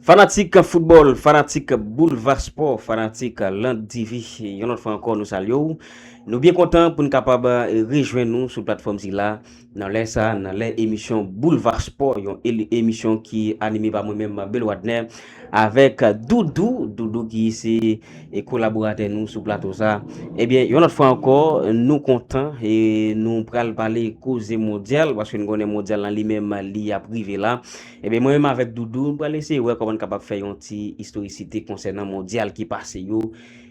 Fanatik foutbòl, fanatik boulva spò, fanatik Land TV, yon lòt fwa ankò nou salye ou. Nou byen kontan pou nou kapab rejwen nou sou platfòm sila nan lè sa, nan lè emisyon boulva spò, yon emisyon ki anime pa mwen menm Bel Wadner avèk Doudou, Doudou ki se kolaboratè nou sou plato sa. Ebyen, eh yon lòt fwa ankò nou kontan e nou pral pale koze mondyal, paske nou konnen mondyal lan li menm li ap rive la. Ebyen mwen menm avèk Doudou, nou pral eseye wè kòman n kapab fè yon ti istorisite konsènan mondyal ki pase yo,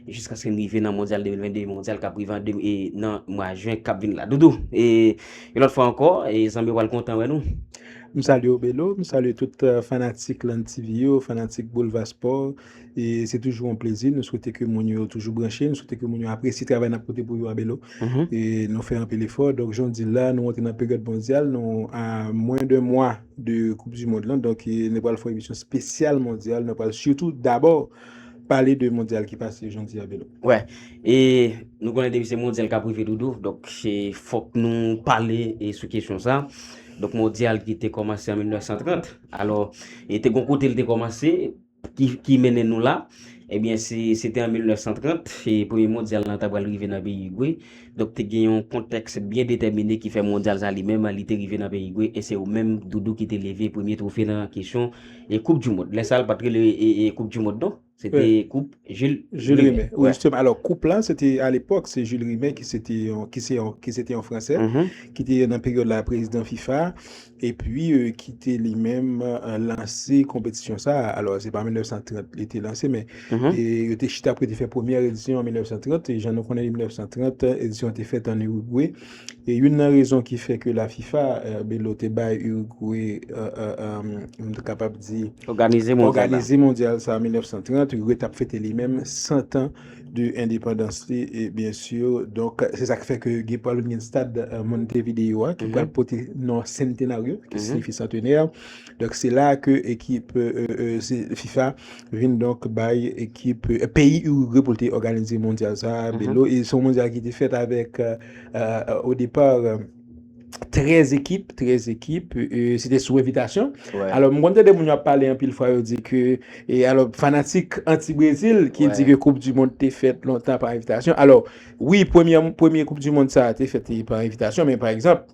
jiskaske n rive nan mondyal 2022, mondyal k ap rive nan mwa jen k ap vini la. Doudou, yon lòt fwa ankò, zanmi yo pral kontan wè nou. M salye w Bélo, m salye tout fanatik Lann TV yo, fanatik Boulva Sport. E se toujou an plezi, nou swete ke moun yo toujou branche, nou swete ke moun yo apresye travay nap pote pou yo a Belo. Mm-hmm. E nou fè anpil efò, donk jan w di l la, nou antre nan peryòd mondyal, nou a mwen de mwa de koup di mond lan, donk e, nou pral fè yon emisyon spesyal mondyal, nou pral sitou dabò pale de mondyal ki pase jodi a Belo. Wè, e nou konnen depi se mondyal kap rive doudou, donk se fòk nou pale e sou kesyon sa. Donk mondyal ki te kòmanse an 1930, alò e te gon kote l te kòmanse, ki mennen nou la ebyen se se te an 1930 e premye mondyal lan ta pral rive nan peyi Igwe donk te gen yon kontèks byen detèmine ki fè mondyal sa li menm li te rive nan peyi Igwe e se yo menm doudou ki te leve premye twofe nan kesyon e koup di mond lè sa l pat rele e koup di mond non se te koup jil jil rime wi jisteman alò koup la se te alepòk se jil rime ki se te yon ki se te yon fransè ki te nan peryòd la prezidan fifa Epi kite li menm lanse konpetisyon sa a. Alò, se pa 1930 li te lanse, men yo te chita pou yo te fè premye edisyon an 1930. Jan nou konnen, 1930, edisyon an te fèt an Urugwe. E youn nan rezon ki fè ke lafifa, Belo, te bay Urugwe, m te kapab di, òganize mondyal sa a an 1930, Urugwe t ap fete li menm santan. de endepandans li byen sur donk se sak fè ke gen pral gen stad Montevideo a ki pral pote non Centenario ki signifi santenè donk se la ke ekip fifa vin donk bay ekip peyi Uruguay pou l te òganize mondyal sa a Bélo e se yon mondyal ki te fèt avèk au départ. 13 ekip, 13 ekip, se te sou evitasyon. Alò, mwen konn tande moun yo ap pale anpil fwa yo di ke, e alò, fanatik anti-Brezil ki di ke koup di mond te fèt lontan pa evitasyon. Alò, wi, premye koup di mond sa te fèt pa evitasyon, men pa egzanp,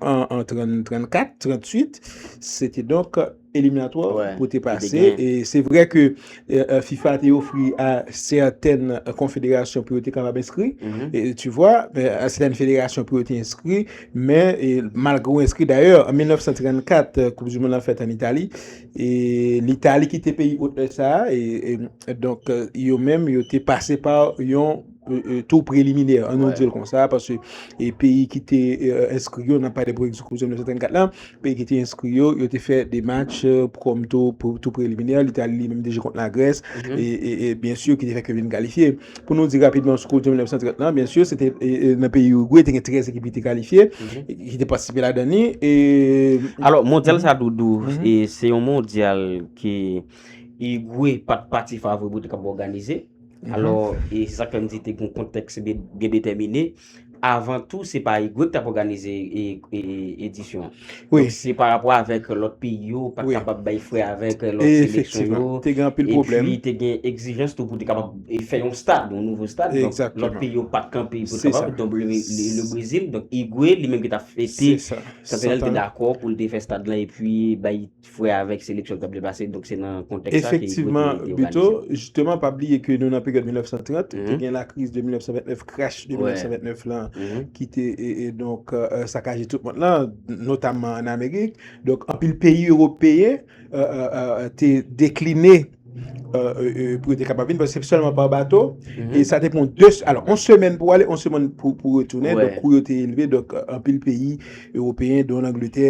an 34, 38, se te donk... Eliminatwa pou te pase. E se vre ke FIFA te ofri a sèten konfederasyon pou yo te kapab enskri. Tu vwa, a sèten federasyon pou yo te enskri. Men, malgre yo enskri, dayè, an 1934, koup du moun an fèt an Itali. E l'Itali ki te peyi otè sa. E donk, yo menm, yo te pase pa yon. Tou preliminè, an nou di l kon sa, paske peyi ki te enskri yo, nan pale pou ekzklusyon 1934 la, peyi ki te enskri yo, yo te fè demach kòm tou preliminè, li te al li menm deje kont la Grès, e byen si yo ki te fèk yo vin kalifye. Pou nou di rapidman sou ekzklusyon 1934 la, byen si yo se te nan peyi Uruguay, te gen 13 ekip ki te kalifye, ki te patisipe la dani. Alò, mondyal sa doudou, se yon mondyal ki Uruguay pat pati favori pou te kab òganize. Alò, e se sa k fè m di te gen yon kontèks byen detèmine. Avan tou, se pa IGWEC t ap òganize edisyon an. Donk, se parapò avèk lòt peyi yo pa t kapab bay fre avèk lòt seleksyon yo. Efektivman, te gen anpil pwoblèm. Epi, te gen egzijans tou pou te kapab fè yon stad, yon nouvo stad. Donk, lòt peyi yo pa t kanpe pou te kapab. Donk, le Brezil, donk IGWE, li menm ki t ap fete. Se sa. Santenèl te dakò pou l te fè stad lan epi bay. Ti frè a avèk seleksyon ki t ap deplase, donk se nan kontèks sa ki Gote te organize. Efektivman Betho, jisteman pa bliye ke nou nan peryòd 1930, te gen lakriz de 1929, crash de 1929 lan ki te donk sakaje tout mond lan, notamman an Amerik, donk anpil peyi ewopeyen te dekline pou yo te kapab vin, paske se sèlman pa bato, e sa te pran 2, alò, yon semèn pou ale, yon semèn pou retounen, donk kou yo te elve, donk anpil peyi ewopeyen, don Angletè,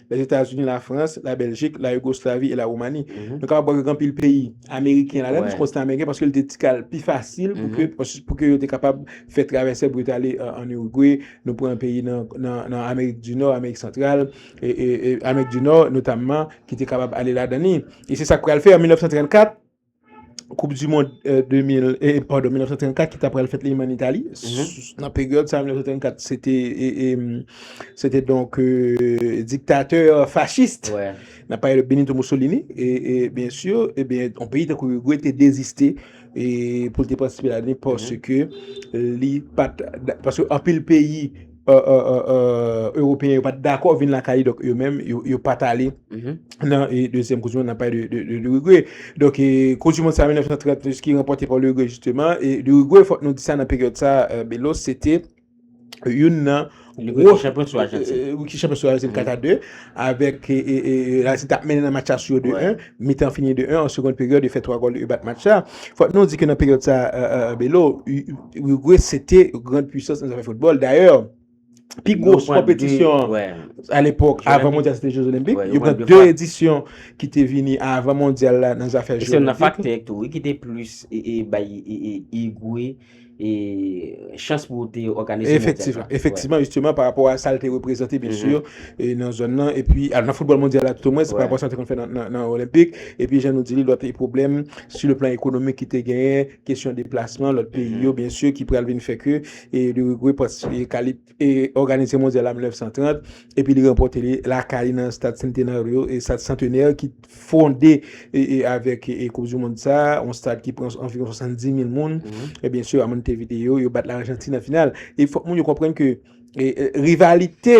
Lèzetazini, Lafrans, Labèljik, Layigoslavi e Lawoumani. Nou kapab wè gen anpil peyi ameriken ladan, piske kontinan ameriken, paske li te ti kal pi fasil pou ke yo te kapab fè travèse pou yo te ale an Irigwe, nou pran peyi nan Amerik di Nò, Amerik Santral, Amerik di Nò notamman ki te kapab ale ladan li. E se sa k pral fè an 1934. koup du mond 1934 ki ta pral fèt li an Itali, nan peryòd sa 1934 se te se te donk diktatè fachist nan pale de Benito Mussolini e byen si e byen an peyi tankou Uruguay te deziste e pou l te patisipe la ni paske li pat paske anpil peyi Europeyen yo pat dakò vin lakay li dok yo menm yo pat ale nan 2èm koup du mond nan pale de l'Uruguay dok koup du mond sa 1930 ki ranpote pa l'Uruguay jisteman e l'Uruguay fòk nou di sa nan peryòd sa Belo se te youn nan gwo chanpyon sou Arjantin ki chanpyon sou Arjantin 4 a 2 avèk Arjantin tap mennen nan match la sou 2 a 1 Mitan fini 2 1 an segond peryòd yo fè 3 gòl yo bat match la. Fòk nou di ke nan peryòd sa Belo, Uruguay se te grand puissance nan zafè football. Dayè, pi gros konpetisyon a l'epòk avan mondyal se te jeux olympiques. Yo pran 2 edisyon ki te vini avan mondyal la nan zafè jeux olympiques. Se nan faktè tou wi ki te plus bay Uruguay. e chans pou te organize mondyal la. Efektivman, efektivman, jisteman, pa rapò a sa l te reprezante, byen si, e nan zòn nan, e pi nan foutbòl mondyal la, tout o mwen, se pa rapò a sa l te konn fè nan olenpik, e pi jan nou di li, lòt e pwoblèm, si le plan ekonomik ki te genyen, kesyon deplasman, lòt peyi yo, byen si, ki pral vin fè ke, e li regwe pòs, e kalite. òganize Mondyal la 1930 epi li ranpòte li lakay li nan Stade Centenario, Stade Centenaire ki fonde avèk Koup di Mond sa, yon stad ki pran anviwon 70 mil moun. E byen si a Montevideo, yo bat Lajantin nan final. E fòk moun yo konprann ke rivalite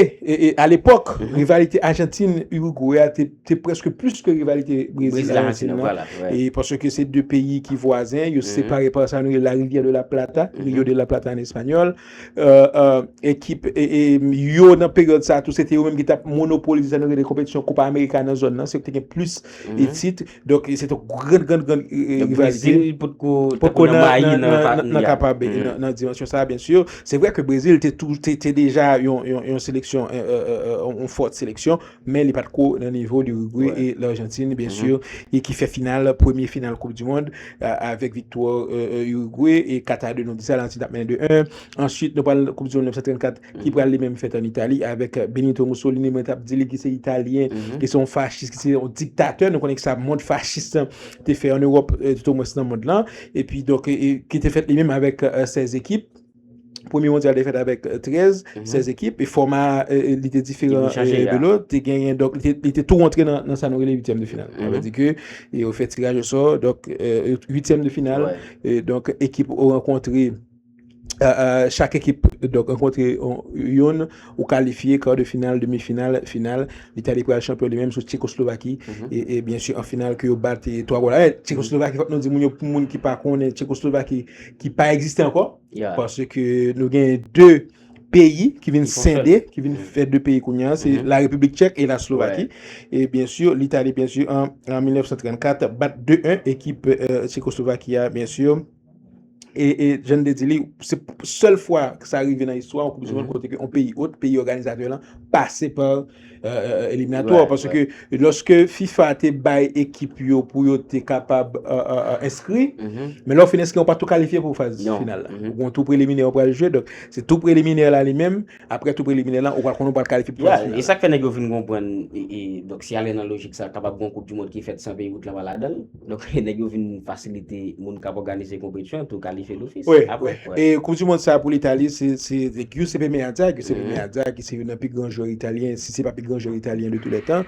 a lepòk, rivalite Ajantin-Urugwe a te prèske plis ke rivalite Brezil-Lajantin nan. E paske se 2 peyi ki vwazen, yo separe pa sa nou rele la Rivière de la Plata, Rio de la Plata an espanyòl. Ekip yo nan peryòd sa tou, se te yo menm ki t ap monopolize sa nou rele konpetisyon Kopa Amerika nan zòn nan. Se yo ki te gen plis tit. Donk, se te yon gran, gran, gran rivalite. Donk, Brezil potko te kon nan mayi nan pa tou ya. Nan ka pa be, nan dimansyon sa, byen si. Se vre ke Brezil te deja yon seleksyon, yon fòt seleksyon. men li pat ko nan nivo Lirigwe e Larjantin byen sur e ki fè final premye final koup di mond avèk viktwa Lirigwe e kat a 2 nou di sa Larjantin tap mennen 2 1 answit nou pral koup di mond 1934 ki pral li menm fèt an Itali avèk Benito Mussolini mwen tap di li ki se Italyen ki se yon fachis ki se yon diktatè nou konnen kisa mond fachis lan te fè an Ewòp tout o mwens nan mond lan epi donk ki te fèt li menm avèk 16 ekip. Premye mondyal te fèt avèk 13, 16 ekip, e fòma li te diferan de lòt, te genyen, dok li te tou antre nan sa nou rele 8èm de final. Anve di ke, yo fè tiraj osò, dok 8èm de final, dok ekip ou ankontre, chak ekip, dok ankontre yon. Ou kalifye, kar de final, demi final, final, Litali pral chanpyon li menm sou Tchekoslovaki, e byen si an final ke yo bat 3 gòl a 1, Tchekoslovaki fòk nou di moun yo pou moun ki pa konnen Tchekoslovaki ki pa egziste ankò, paske nou gen 2 peyi ki vin sende, ki vin fè 2 peyi kounye a, se la Repiblik Tchèk e la Slovaki, e byen si Litali byen si an 1934 bat 2 1 ekip Tchekoslovaki a byen si. E jan de di li, se sèl fwa sa rive nan istwa ou koup di moun kote ke on peyi ot, peyi organizatè lan, pase pa eliminatò. Paso ke loske FIFA te bay ekip yo pou yo te kapab enskri, men lò fin enskri, ou pa tou kalifye pou faz final la. Ou tou preliminè ou pral jwe, donk se tou preliminè la li menm, Aprè tou preliminè lan, ou pral konnen ou pral kalifye pou faz final la. Yeah, e sa k fè nèg yo vin konprann, e donk si y ale nan lojik sa, kapab gen yon koup di mond ki fèt san peyi wout lan pa ladan l. Donk nèg yo vin fasilite moun k ap òganize konpetisyon an tou kalifye dofis aprè. Wi, e koup di mond sa pou Litali se Giuseppe Meazza, Giuseppe Meazza ki se youn nan pi gran jwè italyen, si se pa pi gran jwè italyen de tou lè tan,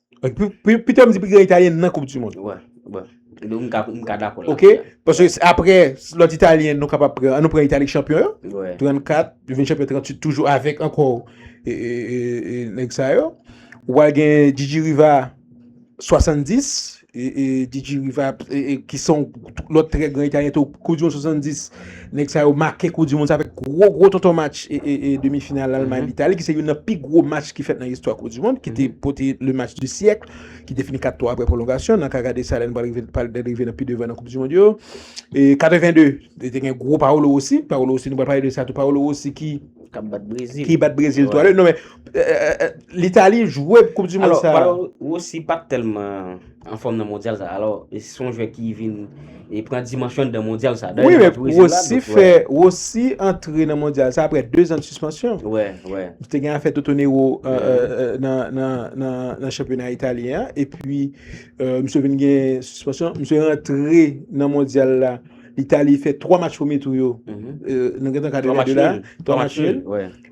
Pito m di pi gran Italyen nan koup di mond. Bon, bon. Nou m ka dakò la. Ok, paske apre lòt Italyen nou kapab pran, an nou pran Italik chanpyon yo. Wè. 34, yo vin chanpyon 38 toujou avèk ankò nèg sa yo. Ou pral gen Gigi Riva 70, Gigi Riva ki son lòt trè gran Italyen tou koup di mond 70. Nèg sa yo make koup di mond sa avèk gwo gwo tonton match demi final Almay Litali ki se youn nan pi gwo match ki fèt nan istwa koup di mond ki te pote le match di syèk ki te fini 4 3 aprè pwolongasyon nan ka gade sa lè nou pral rive nan pi devan nan koup di mond yo 82 te gen gwo Paolo Rossi Paolo Rossi nou pral pale de sa tou Paolo Rossi ki bat Brezil 3 2 non men Litali jwe koup di mond sa Paolo Rossi pat tèlman anfòm nan mondyal sa alò se yon jwè ki vin pran dimansyon nan mondyal sa wi men Rossi fè Rossi antre nan mondyal sa aprè 2 zan sispansyon te gen afè totonero nan chanpyona italyen an epi misye vin gen sispansyon misye rantre nan mondyal la itali fè 3 match premye tou yo nou gentan ka de la 3 match nul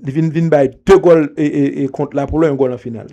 Li vin vin bay 2 gòl kont la pou lè yon gòl an final.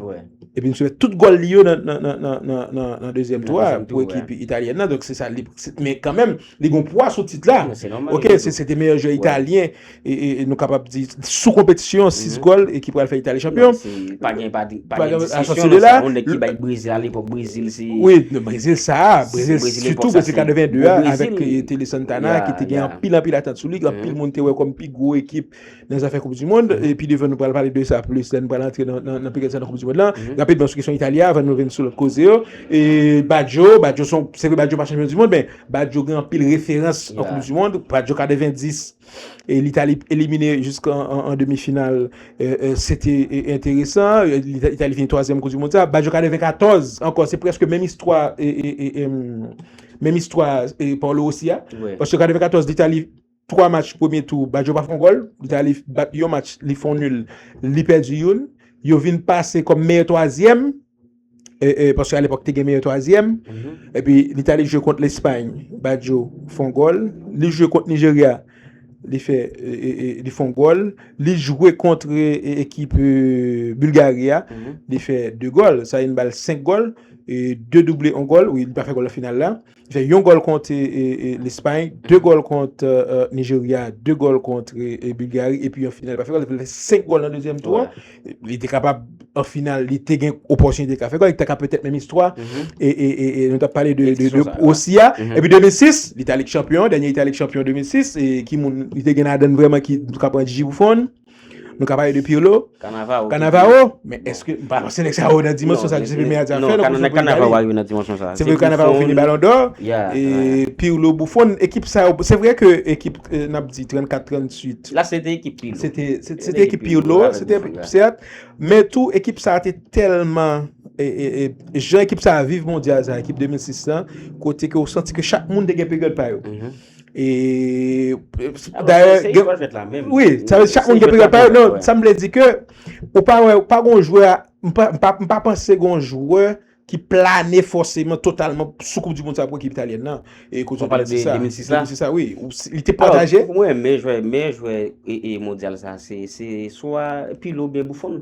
Epi msye fè tout gòl li yo nan dezyèm tou a pou ekip Italyen nan. Donk se sa li. Men kanmenm li gon pwa sou tit la. Se nòmal. Ok se se te meyè jwè Italyen. E nou kapab di sou konpetisyon 6 gòl e ki pral fè Italyen chanpyon. Se pa gen pa gen diskisyon nan sa. On nèk ki bay Brezil a lepòk Brezil se. Wi Brezil sa a. Brezil lepòk sa se. Sitou Brezil 82 a avèk Tele Santana ki te gen anpil anpil atant sou li. Anpil moun te wè kòm pi. gwo ekip nan zafè koup di mond e pi devan nou pral pale de sa plis lè nou pral antre nan pèryòd sa nan koup di mond lan rapidman sou kesyon Italia avan nou vin sou lòt koze yo e Badjo Badjo son se vre Badjo pa chanpyon di mond men Badjo gen anpil referans nan koup di mond Badjo 90 e l'Italie elimine jiska an demi final se te enteresan l'Italie fini 3 zièm koup di mond sa Badjo 94 ankò se prèske menm istwa e menm istwa Paolo Rossi a paske 94 l'Italie 3 match premye tou Badjo pa fè yon gòl, li te ale bat yon match li fè yon nul, li pèdi youn, yo vin pase kòm meyè twazyèm, paske a lepòk te gen meyè twazyèm, epi li te ale jwe kont Lespay, Badjo fè yon gòl, li jwe kont Nijerya, li fè yon gòl, li jwe kont ekip Bulgari a, li fè 2 gòl, sa vin ba l 5 gòl, 2 double yon gòl, wi li pa fè gòl nan final la. Fè yon gòl kont Lespay, 2 gòl kont Nijerya, 2 gòl kont Bilgari epi an final li pa fè gòl, li fè 5 gòl nan dezyèm tou an. Li te kapab an final li te gen opòtinite li ka fè gòl, li ta ka petèt menm istwa e nou t ap pale de Osi a. Epi 2006, Litali k chanpyon, dènye Itali k chanpyon 2006 e ki moun li te gen ladann vrèman ki ka pran Jiji Bouffon. Nou ka pale de Pirlo, Cannavaro, men eske, m pa panse nèg sa yo nan dimansyon sa Giuseppe Meazza fè non. Nan Cannavaro pa rive nan dimansyon sa. Se vre Cannavaro fini Ballon d'Or, Pirlo, Buffon, ekip sa yo, se vre ke ekip n ap di 34, 38. La se te ekip Pirlo. Se te, se te ekip Pirlo, se te, sèt, men tou ekip sa te tèlman, jan ekip sa viv mondyal sa, ekip 2006 lan, kote ke ou santi ke chak moun te gen peryòd pa yo. E, oui, chak moun gen peryòd pa yo, non, sa m vle di ke, ou pa wè, ou pa gon jwè, m pa panse gon jwè ki plane fòseman totalman sou koup di moun sa pou ekip italyen nan. E koup di moun sa, 2006 la? 2006 la, oui. Li te pataje? Mwen, mwen jwè, mwen jwè e mondyal sa se swa Pirlo ou byen Buffon.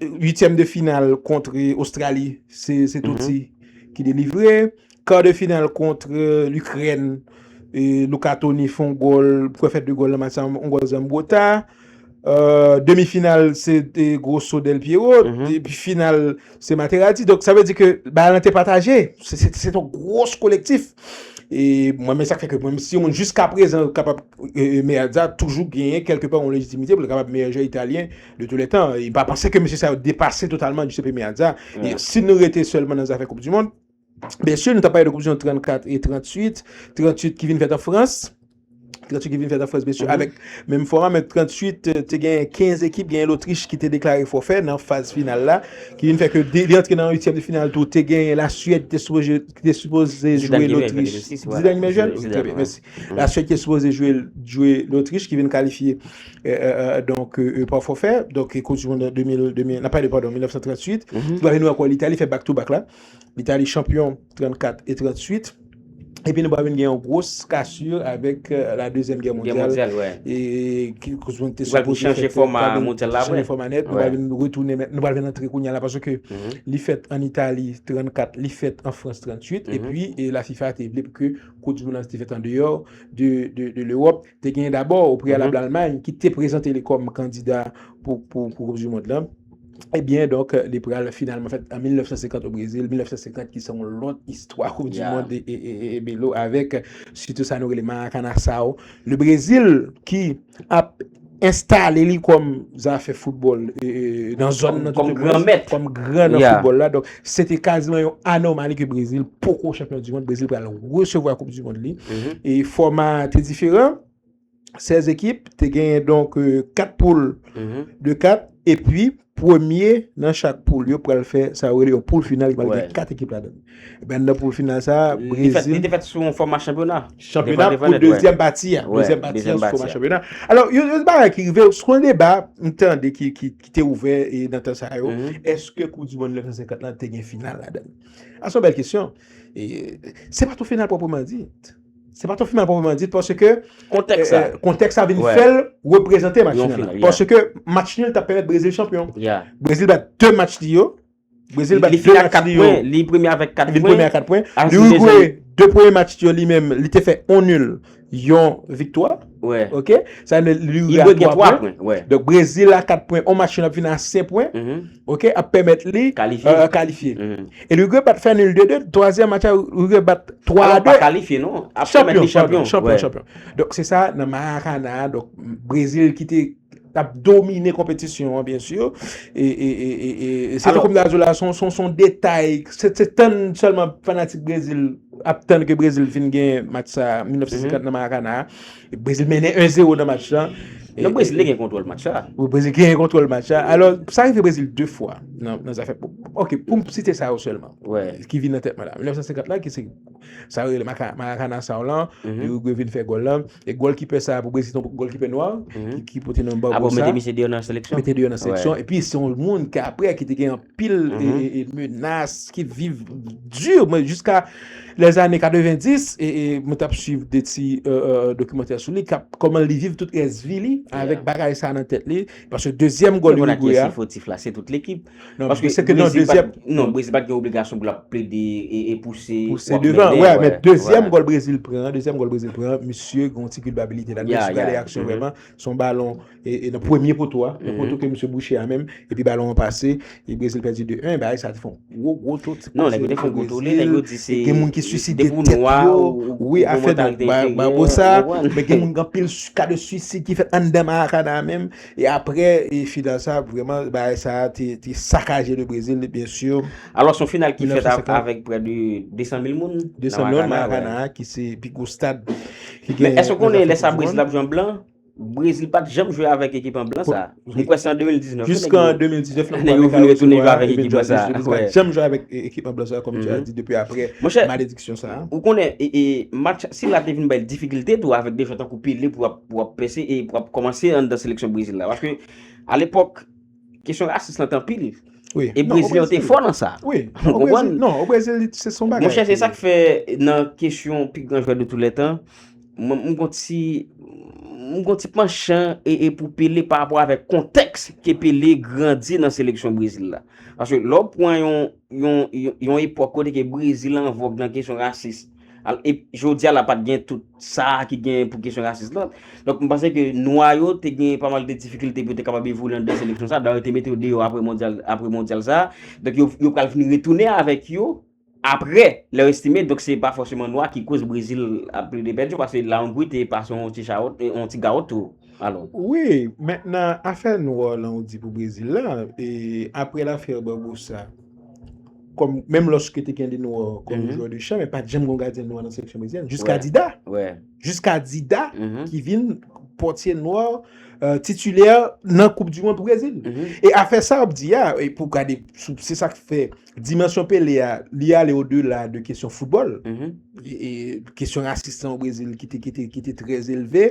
Uityèm de final kontre Ostrali se Totti ki delivre. Kar de final kontre Likrèn Luca Toni fè yon gòl pou kò fè 2 gòl nan match sa yon gòl Zambrotta. Demi final se Grosso Del Piero. Epi final se Materazzi. Donk sa vle di ke bagay lan te pataje. Se ton gros kolektif. E mwen men sa k fè ke mwen si yon moun jiska prezan kapab Meazza toujou genyen kèlke pa yon lejitimite pou l kapab meyè jwè Italyen. De tous les temps, e pa panse ke mesye sa yo depase totalman Giuseppe Meazza. E si nou rete sèlman nan zafè koup du mond, byen sur nou ta pale de koup du mond 34 e 38, 38 ki vin fèt an Frans, 38 ki vin fèt an Frans byen sur avèk menm fòma men 38 te gen 15 ekip, genyen Lotrich ki te deklare fòfè nan faz final la, ki vin fè ke li antre nan uityèm de final tou, te genyen la Suèd ki te sipoze jwe Lotrich. Zidane ki vin jwèl? Zidane ki vin jwèl, wi. Trè byen, mèsi. La Suède ki sipoze jwe Lotrich ki vin kalifye donk pa fòfè, donk koup di mond an 2002, nan pale padon 1938, ki pral vin ankò Litali fè back to back la, Litali chanpyon 34 e 38, epi nou pral vin gen yon gwos kasur avèk la dezyèm gè mondyal. Gè mondyal, wè. E ki koup di mond te sipoze fèt. Ki pral vin chanje fòma mondyal la apre. Chanje fòma nèt, nou pral vin retounen mèt, nou pral vin antre kounya la paske li fèt an Itali 34, li fèt an Frans 38, epi la fifa te vle pou ke Coupe du Monde lan te fèt andeyò de l'Europe, te genyen dabò o preyalab l'Allemagne ki te prezante li kòm kandida pou Coupe du Monde lan, ebyen donk li pral finalman fèt an 1950 o Brésil, 1950 ki se yon lòt istwa Coupe du Monde e Bélo avèk sitou sa nou rele Maracanaçao, le Brésil ki. ap enstale li kòm zafè foutbòl nan zòn nan. Kòm gran mèt. Kòm gran nan foutbòl la. Donk, se te kaziman yon anomali ke Brezil poko chanpyon di mond. Brezil pral resevwa koup di mond li. E fòma te diferan. 16 ekip te genyen donk 4 poul de 4. E pi. Premye nan chak poul yo pral fè sa yo rele yon poul final ki pral gen 4 ekip ladan l. Ebyen anndan poul final sa a, Brezil. Li te fèt sou yon fòma chanpyona. Chanpyona pou dezyèm pati a. Dezyèm pati a sou fòma chanpyona. Alò, yon bagay ki rive, sou yon deba m tande ki te ouvè nan tan sa yo, èske koup dimonn 1950 la te gen final ladan l? A se yon bèl kesyon. Se pa t yon final pwopreman dit. Se pa ton final pwoprman dit paske kontèks la vin fè l reprezante match nul la. Paske match nul ta pèmèt Brezil chanpyon. Brezil bat 2 match li yo. Brezil bat 2 match li yo. Li premye avèk 4 pwen. Li premye avèk 4 pwen. Li wigwe 2 premye match li yo li menm li te fè 1 nul yon viktwa. Ok? Sa vle di li rive a 3 pwen. Donk Brezil la 4 pwen. On match yo ap vin a 5 pwen. Ok? Ap pèmèt li kalifye. E li rive bat fè nil 2-2. Twazyèm match la li rive bat 3-2. Alon pa kalifye non. Ap pèmèt li chanpyon. Chanpyon, chanpyon. Donk se sa nan Maracana. Donk Brezil ki te tap domine konpetisyon an byen sur e se koup la jola son detay se tann selman fanatik brezil ap tann ke brezil vin gen match sa 1950 nan marakana brezil mennen 1 zero nan match sa nan brezil gen kontrol match sa brezil gen kontrol match sa alo sa rive brezil 2 fwa nan zafè ok poum site sa yo selman ki vin nan tet mwen la 1950 la ki se Sa yo rele Maracana sa w lan, pi Uruguay vin fè gòl lan. E gòl ki pè sa a pou Brezil se yon gòl ki pè nwa, ki pote nan Barbosa. Apo ah, mete misye deyò nan seleksyon. Mete deyò nan seleksyon. E pi se yon moun ki apre ki te gen yon pil e menas, ki viv di, mwen jiska lè zane 90, e mwen tap suiv de ti dokimantè sou li, kap kòman li viv tout rès vi li, avèk bagay sa nan tèt li, paske dezyèm gòl Uruguay a. Mwen ak yon si fotif la, se tout lekip. Non, paske se te nan dezyèm. Non, Brezil pat gen obligasyon pou l ap plede e pouse. Pouse devan, wè, wè, men dezyèm gòl Brezil pran, dezyèm gòl Brezil pran, misye gen yon ti kilpabilite la. Ya, ya. Mwen sou gade aksyon vreman, se yon balon e nan premye poto a, nan poto ke misye bouche a menm, epi balon an pase, e Brezil pèdi 2, 1, bagay sa te fè yon gwo, gwo to. Non, nèg yo te fè yon gwo tole, nèg yo di se. Gen moun ki swiside tèt yo. Depi ou nwa ou. Wi, afè de. Ba, ba, ba, ba, sa. Men gen moun gen anpil ka de swisid ki fèt anndan Maracana a menm, E aprè final sa vrèman bagay sa te sakaje le Brésil bien sûr. Alò son final ki fèt avèk prè de 200 mil moun nan Maracana a ki se pi gwo stad ki gen. Men èske konnen lè sa Brésil ap jwe an blan? Brésil pat janm jwe avèk ekip an blan sa. Mwen kwè se an 2019. Jis kan 2019 lè yo vin retounen jwe avèk ekip blan sa. Brésil pat janm jwe avèk ekip an blan sa kòm tu a di depi aprè malediksyon sa. Ou konnen match sila te vin bay difikilte tou avèk de jwè tankou Pelé pou ap. pou wap pèse e pou wap kòmanse anndan seleksyon Brezil la. Paske, alepòk, kesyon rasis lan te anpil. E Brezil yo te fò nan sa. Ou konprann? Non, o Brezil, se son bagay. Mwen chèche sa k fè nan kesyon pi gran jwè de tou lè tan, mwen kon ti, mwen kon ti panchan e pou Pele pa rapò avèk kontèks ke Pele grandi nan seleksyon Brezil la. Paske, lò pwen yon, yon epòk kote ke Brezil an vòg nan kesyon rasis. E jodi a la pat gen tout sa ki gen pou kesyon rasis la. Donk mwen panse ke nwa yo te gen pa mal de difikilte pou te kapab evolye nan de seleksyon sa. Dayè yo te mete yo deyò apre mondyal sa. Donk yo pral vini retounen avèk yo apre lè yo estime. Donk se pa fòseman nwa ki koz Brezil ap plede pèdi. Pase la Hongrie te pase yon ti gawot tou. Alon. Wi, men nan afè nwa lan ou di pou Brezil la, e apre lafè Barbosa, kòm menm lòske te gen de nwa kòm jwè de chan, men pat janm gon gadyen nwa nan seleksyon brezilyèn, jiska Dida. Wè. Jiska Dida ki vin pòtye nwa titulè nan koup di mond pou Brezil. E afè sa ou ap di a, e pou gade, se sa k fè. Dimansyon Pele a, li ale o dela de kesyon foutbòl. Kesyon rasis lan o Brezil ki te trè elve.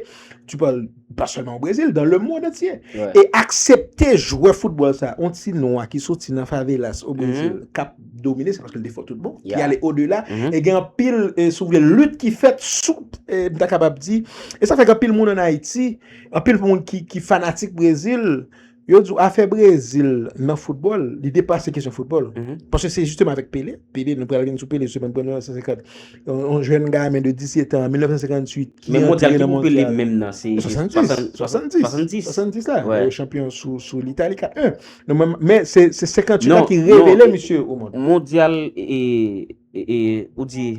Tu pale, pa sèlman o Brezil, dan le mond antye. E aksepte jwè foutbòl sa, on ti nwa ki soti nan favelas o Brezil, kap domine, se paske li te fò tout bon, ki ale o dela, e gen anpil, si w vle, lit ki fèt sou, m ta kapab di, e sa fè gen anpil moun an Ayiti, anpil moun ki fanatik Brezil, Yo di w afè Brezil nan foutbòl, li depase kesyon foutbòl. Paske se jisteman avèk Pele, Pele, nou pral vin sou Pele jisteman, premye nan 1950. Yon jèn gamin de 17 an, 1958, ki antre nan mondyal. Men mondyal ki pou Pele menm nan, se 70. 70. 70 la, yo chanpyon sou l'Italie 4-1. Men se 58 la ki revele misye o mond. Mondyal, ou di,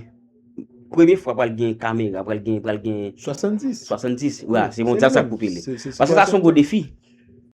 premye fwa pral gen kamera, pral gen, pral gen. 70. 70, wè, se mondyal sa k pou Pele. Paske sa son gwo defi.